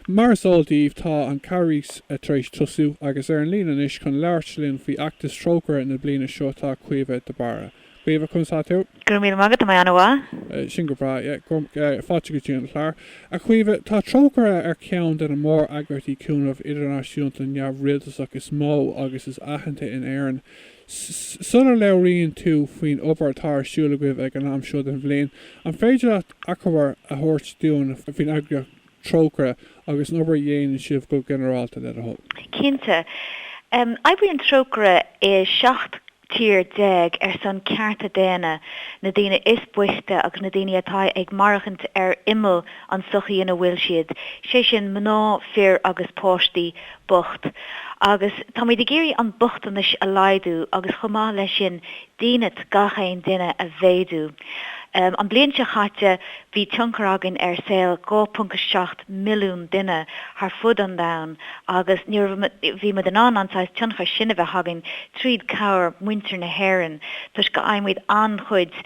Mar is eol daoibh tá an Carghas tar éis tosú agus ar an líne anois chun labhairt linn faoi fheachtas Trócaire na bliana seo tá Caoimhe de Barra. Caoimhe, conas tá tú? Go raibh míle maith agat, tá mé an-mhaith. Sin go breá, yeah. Fáilte go dtí an clár. A Chaoimhe, tá Trócaire ar cheann de na mór-eagraíochtaí cúnaimh idirnáisiúnta neamhrialtasach is mó agus is aitheanta in Éirinn. Sula labhraíonn tú faoin obair atá ar siúl agaibh ag an am seo den bhliain, an féidir leat achoimre a thabhairt dúinn faoin eagraíocht? Trócaire agus an obair a dhéanann sibh go ginearálta le do thoil. Cinnte. Oibríonn Trócaire i 17 tír ar son cearta daonna na daoine is boichte agus na daoine atá ag maireachaint ar imeall an sochaí ina bhfuil siad, sé sin mná, fir agus páistí bocht. Agus táimid ag iarraidh an bochtanais a laghdú agus chomh maith le sin dínit gach aon duine a mhéadú. An bhliain seo chaite, bhí tionchar againn ar saol 2.7 milliún duine thar fud an domhain agus ní raibh, bhí muid in ann an saghas tionchair sin a bheith againn trí cabhair muintir na hÉireann toisc go bhfaighimid an-chuid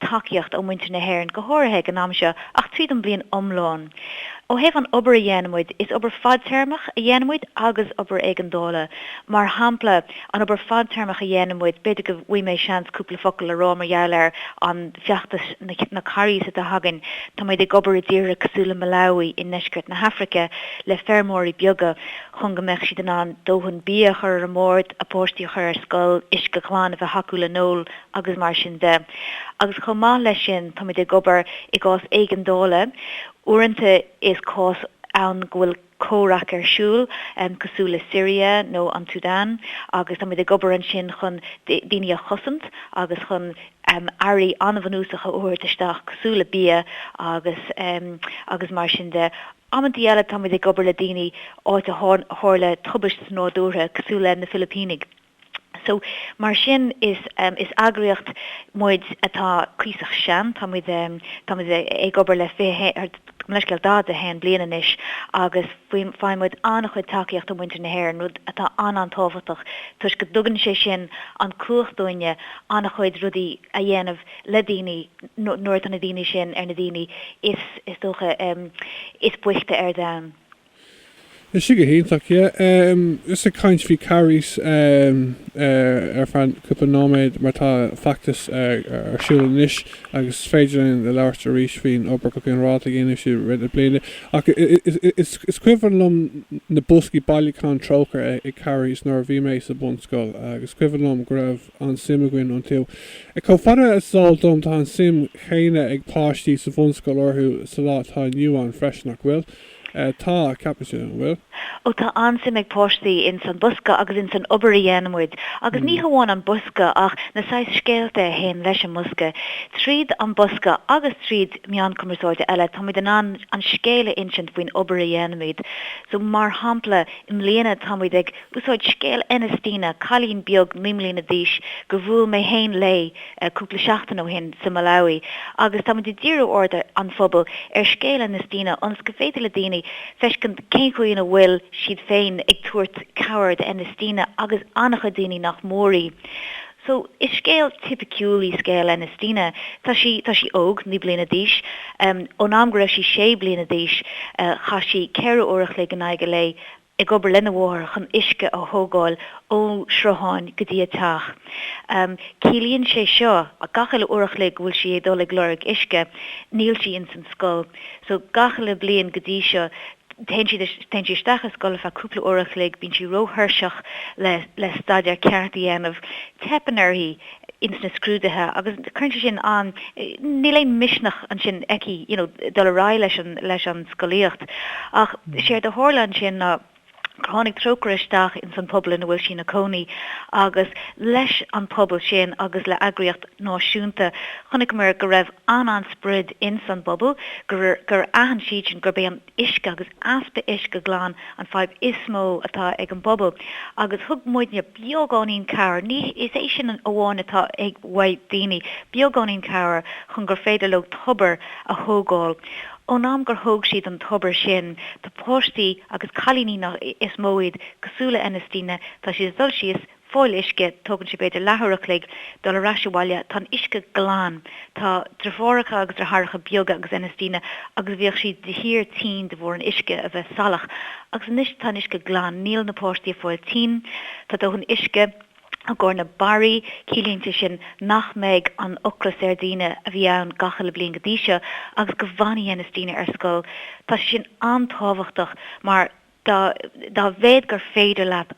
tacaíocht ó mhuintir na hÉireann, go háirithe ag an am seo, ach tríd an bhliain iomlán. Ó thaobh an obair a dhéanaimid, is obair fadtéarmach a dhéanaimid agus obair éigeandála. Mar shampla, an obair fadtéarmach a dhéanaimid, b'fhéidir go bhfaighidh mé seans cúpla focal a rá mar gheall ar an feachtas na Carghais atá againn. Táimid ag obair i dtíortha cosúil le Malawi i ndeisceart na hAfraice le feirmeoirí beaga chun go mbeadh siad in ann dóthain bia a chur ar an mbord, a bpáistí a chur ar scoil, uisce glan, a bheith acu le n-ól, agus mar sin de. Agus chomh maith leis sin, táimid ag obair i gcás éigeandála. Uaireanta is cás ann go bhfuil comhrac ar siúl, cosúil le Siria nó an tSúdáin, agus táimid ag obair ansin chun daoine a chosaint agus chun earraí an-bhunúsacha a thabhairt isteach, cosúil le bia agus agus mar sin de. Amantaí eile táimid ag obair le daoine áit a tharla tubaiste nádúrtha, cosúil le na Filipínigh. So, mar sin, is, is eagraíocht muid atá cuíosach sean, tá muid, tá muid ag obair le fiche haon, ar, gabh mo leithscéal, daichead a haon bliain anois agus faoi, faigheann muid an-chuid tacaíocht ó mhuintir na hÉireann, rud atá an-an-tábhachtach toisc go dtugann sé sin an cumhacht dúinne an-chuid rudaí a dhéanamh le daoine nuair atá na daoine sin ar na daoine is, is dócha, is boichte ar domhan. Tá sé go hiontach, yeah. Em, just ag caint faoi Carghas, em, eh, ar feadh cúpla nóiméad mar tá feachtas ar siúl anois agus is féidir linn labhairt arís faoin obair go ginearálta a dhéanann sibh i rith na bliana ach eh, is, is cuimhin liom na boscaí bailiúcháin Trócaire ag Carghas nuair a bhí mé sa bhunscoil agus is cuimhin liom go raibh an-suim againn iontu. Eh, chomh fada is is eol dom tá an suim chéanna ag páistí sa bhunscoil orthu sa lá atá inniu ann freisin, nach bhfuil? Tá, ceapann siad an bhfuil. Ó tá an-suim ag páistí ins an bosca agus ins an obair a dhéanaimid. Agus ní hamháin an bosca ach na saghas scéalta a théann leis an mbosca. Tríd an bosca agus tríd meáin cumarsáide eile táimid in ann an scéal a insint faoin obair a dhéanaimid. So mar shampla i mbliana táimid ag úsáid scéal Enestina, cailín beag naoi mbliana d'aois gur bhuail mé féin léi, cúpla seachtain ó shin sa Malawi agus táimid ag díriú aird an phobail ar scéal Enestina ionas go féidir le daoine feiscint cén chaoi ina bhfuil siad féin ag tabhairt cabhair do Enestina agus an-chuid daoine nach mór í so is scéal tipiciúl í scéal Enestina. Tá sí tá sí óg, naoi bliana d'aois. Ón am go raibh sí sé bliana d'aois chaith sí ceithre uair a chloig in aghaidh an lae ag obair lena mháthair chun uisce a thógáil ó shrutháin go dtí a teach. Ciallaíonn sé seo gach uile uair a chloig go bhfuil sí ag dul ag lorg uisce. Níl sí ins an scoil. So, gach uile bliain go dtí seo, téann siad, téann sí isteach i scoil ar feadh cúpla uair a chloig, bíonn sí ró-thuirseach le, le staidéar ceart a dhéanamh, teipeann uirthi, ins na scrúduithe agus cuireann sé sin an, níl aon misneach ansin aici you know dul ar aghaidh leis an, leis an scolaíocht. Ach séard a tharla ansin ná gur tháinig Trócaire isteach ins an pobal ina bhfuil sí ina cónaí agus leis an pobal sin agus le eagraíocht náisiúnta chonaiceamar go raibh an-an sprid ins an bpobal gur, gur aithin siad sin gurb é an. uisce agus easpa uisce glan an fadhb is mó atá ag an bpobal agus thug muidne beagáinín cabhair, ní is é sin amháin atá ag, uaidh daoine, beagáinín cabhair chun gur féidir leo tobar a thógáil. Ón am gur thóg siad an tobar sin, tá páistí agus cailíní nach, is mó iad, cosúil le Enestina, tá siad ag dul síos, fáil uisce, tógann sé b'fhéidir leathuair a chloig dul ar ais abhaile. Tá an uisce glan. Tá driofúracha agus dritheáracha beaga agus Enestina agus bhíodh siad de shíor tinn de bharr an uisce a bheith salach. Agus anois tá an uisce glan. Níl na páistí ag fáil tinn. Tá dóthain uisce i gcomhair na barraí. Ciallaíonn sé sin nach mbeidh an ocras ar daoine a bhí ann gach uile bliain go dtí seo agus go bhfanfaidh Enestina ar scoil. Tá sé sin an-tábhachtach mar. Dá mhéad gur féidir leat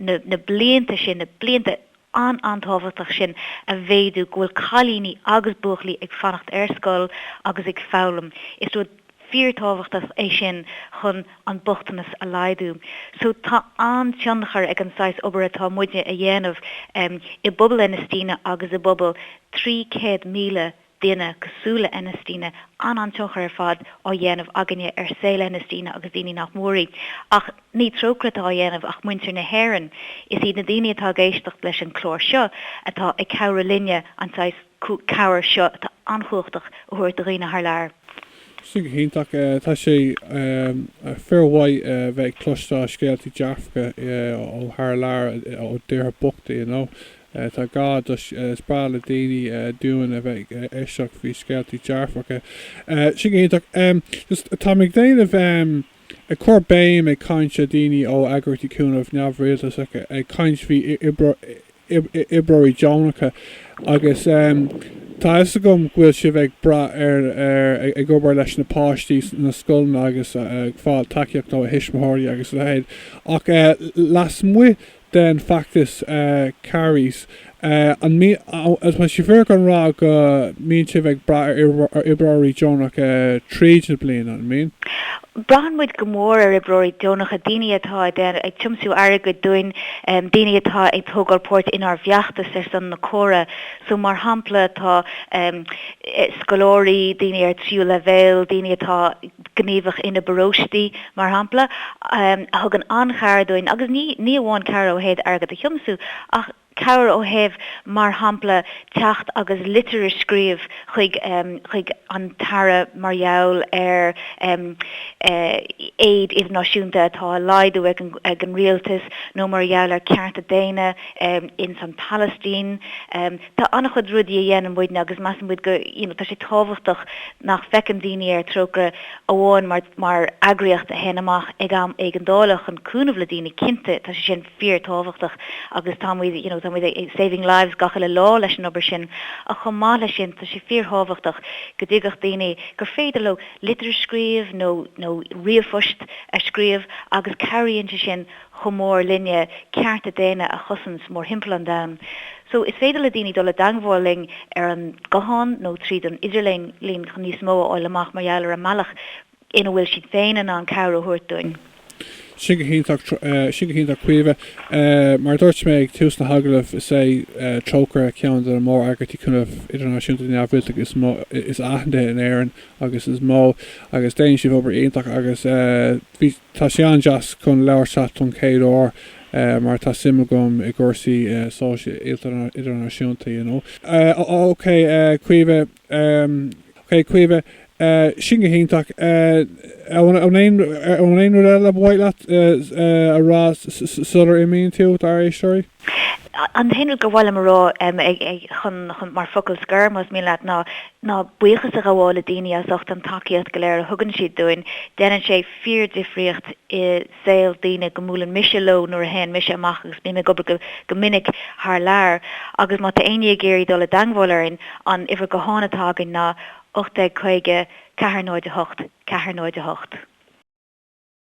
na blianta sin, na blianta an-an-tábhachtach sin a mhéadú, go bhfuil cailíní agus buachaillí ag fanacht ar scoil agus ag foghlaim, is rud fíor-tábhachtach é sin chun an bochtanas a laghdú. So tá an-tionchar ag an saghas obair atá muidne a dhéanamh i bpobal Enestina agus i bpobal 300,000 daoine cosúil le Enestina, an-an-tionchar ar fad á dhéanamh againne ar saol Enestina agus daoine nach mór í. Ach ní Trócaire atá á dhéanamh ach muintir na hÉireann. Is iad na daoine atá ag éisteacht leis an chlár seo atá ag cabhrú linne an saghas cabhair seo atá an-chumhachtach a thabhairt do dhaoine thar lear. Sin go hiontach. Tá sé fíor mhaith bheith ag cloisteáil scéaltaí dearfacha ó thar lear, ó dtíortha bochta, you know. Tá gá do. Is breá le daoine dúinn a bheith ag éisteacht faoi scéaltaí dearfacha. Sin go hiontach. Just táim ag déanamh em. ag cur béim ag caint le daoine ó eagraíochtaí cúnaimh neamhrialtasacha ag caint faoi oibreoirí deonacha agus em. tá fhios agam go bhfuil sibh ag brath ar ar ag obair leis na páistí sna scoileanna agus ag fáil tacaíocht ó thuismitheoirí agus a leithéid ach eh. lasmuigh den feachtas Carghais. Tá sé fíor chun rá go mbíonn sibh ag brath ar oibreoirí deonacha tríd na bliana, an mbíonn? Braitheann muid go mór ar oibreoirí deonacha, daoine atá ag tiomsú airgid dúinn, daoine atá ag tógáil páirt inár bhfeachtas ar son na córa. So, mar shampla, tá scoláirí, daoine ar tríú leibhéal, daoine atá. gníomhach ina bparóistí, mar shampla, a thugann an-chabhair dúinn, agus ní ní amháin cabhair ó thaobh airgead a thiomsú, ach cabhair ó thaobh, mar shampla, teacht agus litir a scríobh chuig chuig an tAire mar gheall ar aid idirnáisiúnta atá a laghdú ag an ag an rialtas, nó mar gheall ar cearta daonna ins an Palaistín. Tá an-chuid rudaí a dhéanann muidne agus measann muid gur, you know, tá sé tábhachtach nach bhféachann daoine ar Trócaire amháin mar, mar eagraíocht a théann amach ag am éigeandála chun cúnamh le daoine, cinnte tá sé sin fíor-tábhachtach agus tá muid, you know, tá muid ag saving lives gach uile lá leis an obair sin ach chomh maith leis sin tá sé fíor-thábhachtach go dtuigfeadh daoine gur féidir leo litir a scríobh nó, nó ríomhphost a scríobh agus cabhraíonn sé sin chomh mór linne cearta daonna a chosaint mórthimpeall an domhain. So, is féidir le daoine dul i dteangmháil linn ar an nguthán nó tríd an idirlíon chun níos mó a fháil amach mar gheall ar an mbealach ina bhfuil siad féin in ann cabhair a thabhairt dúinn. Sin go hiontach, sin go hiontach Caoimhe. Mar a dúirt mé ag tús na hagallaimh, is é Trócaire ceann de na mór-eagraíochtaí cúnaimh idirnáisiúnta neamhrialtasacha is aitheanta in Éirinn agus is mó, agus déanann sibh obair iontach agus bhí, Tá sé an-deas chun labhairt leat don chéad uair mar tá suim agam i gcúrsaí sóisialta idirnáisiúnta you know. O, OK, Caoimhe, OK, Caoimhe, sin go hiontach. An aon rud eile a ba mhaith leat a rá sular imíonn tú, dár éisteoirí? An t-aon rud gur mhaith liom a rá chun, mar focal scoir, más mian leat, ná ná buíochas a ghabháil le daoine as ucht an tacaíocht go léir a thugann siad dúinn. Déanann sé fíordhifríocht i saol daoine go mbuaileann mise leo nuair a théann mise amach agus bím ag obair go minic thar lear. Agus má tá éinne ag iarraidh dul i dteangmháil orainn, an uimhir gutháin atá againn ná 1850 408 408.